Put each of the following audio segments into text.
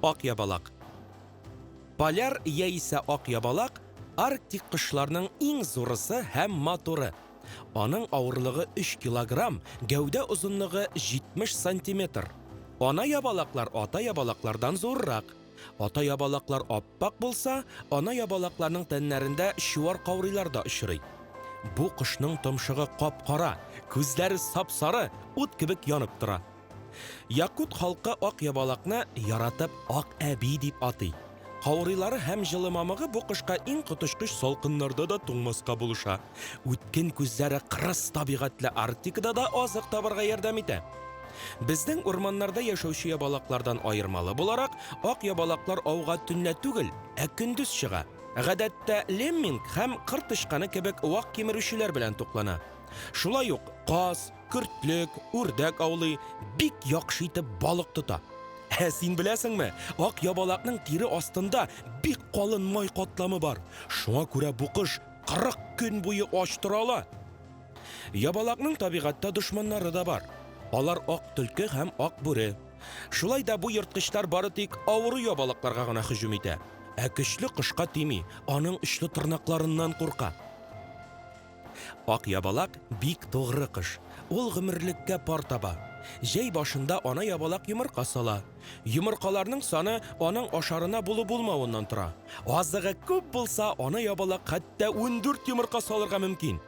Ак ябалак. Поляр яисә ак ябалак арктик кошларның иң зурысы һәм матуры. Аның авырлыгы 3 килограмм, гәүдә озынлыгы 70 сантиметр. Ана ябалаклар ата ябалаклардан зуррак. Ата ябалаклар ап-ак булса, ана ябалакларның тәннәрендә чуар каурыйлар да очрый. Бу кошның томшыгы кап-кара, күзләре сап-сары, ут кебек янып тора. Якут халкы ак ябалакны яратып ак әби дип атый. Каурыйлары һәм җылы мамыгы бу кошка иң коточкыч салкыннарда да туңмаска булыша. Үткен күзләре кырыс табигатьле Арктикада да азык табарга ярдәм итә. Безнең урманнарда яшәүче ябалаклардан аермалы буларак, ак ябалаклар ауга төнлә түгел, ә көндез чыга. Гадәттә лемминг һәм кыр тычканы кебек вак кимерүчеләр белән туклана. Шулай ук каз, көртлек, үрдәк аулый, бик яхшы итеп балык тота. Ә син беләсеңме, ак ябалакның тире астында бик калын май катламы бар. Шуңа күрә бу кош 40 көн буе ач тора ала. Ябалакның табигатьтә дошманнары да бар. Алар ак төлке һәм ак бүре. Шулай да бу ерткычлар бары тик авыру ябалакларга гына һөҗүм итә. Ә көчле кошка тими, аның очлы тырнакларыннан курка. Ак ябалак бик тугры кош. Ул гомерлеккә пар таба. Җәй башында ана ябалак йомырка сала. Йомыркаларның саны аның ашарына булу-булмавыннан тора. Азыгы күп булса, ана ябалак хәтта 14 йомырка салырга мөмкин.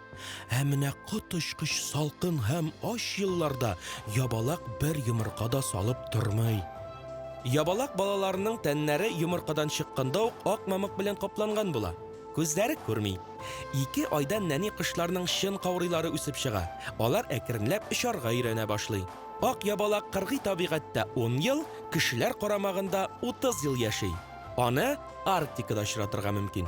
Ә менә коточкыч салкын һәм ач елларда ябалак бер йомырка да салып тормый. Ябалак балаларының тәннәре йомыркадан чыкканда ук ак мамык белән капланган була. Күзләре күрми. Ике айдан нәни кошларның чын каурыйлары үсеп чыга. Алар әкренләп очарга өйрәнә башлый. Ак ябалак кыргый табигатьтә ун ел, кешеләр карамагында утыз ел яши. Аны Арктикада очратырга мөмкин.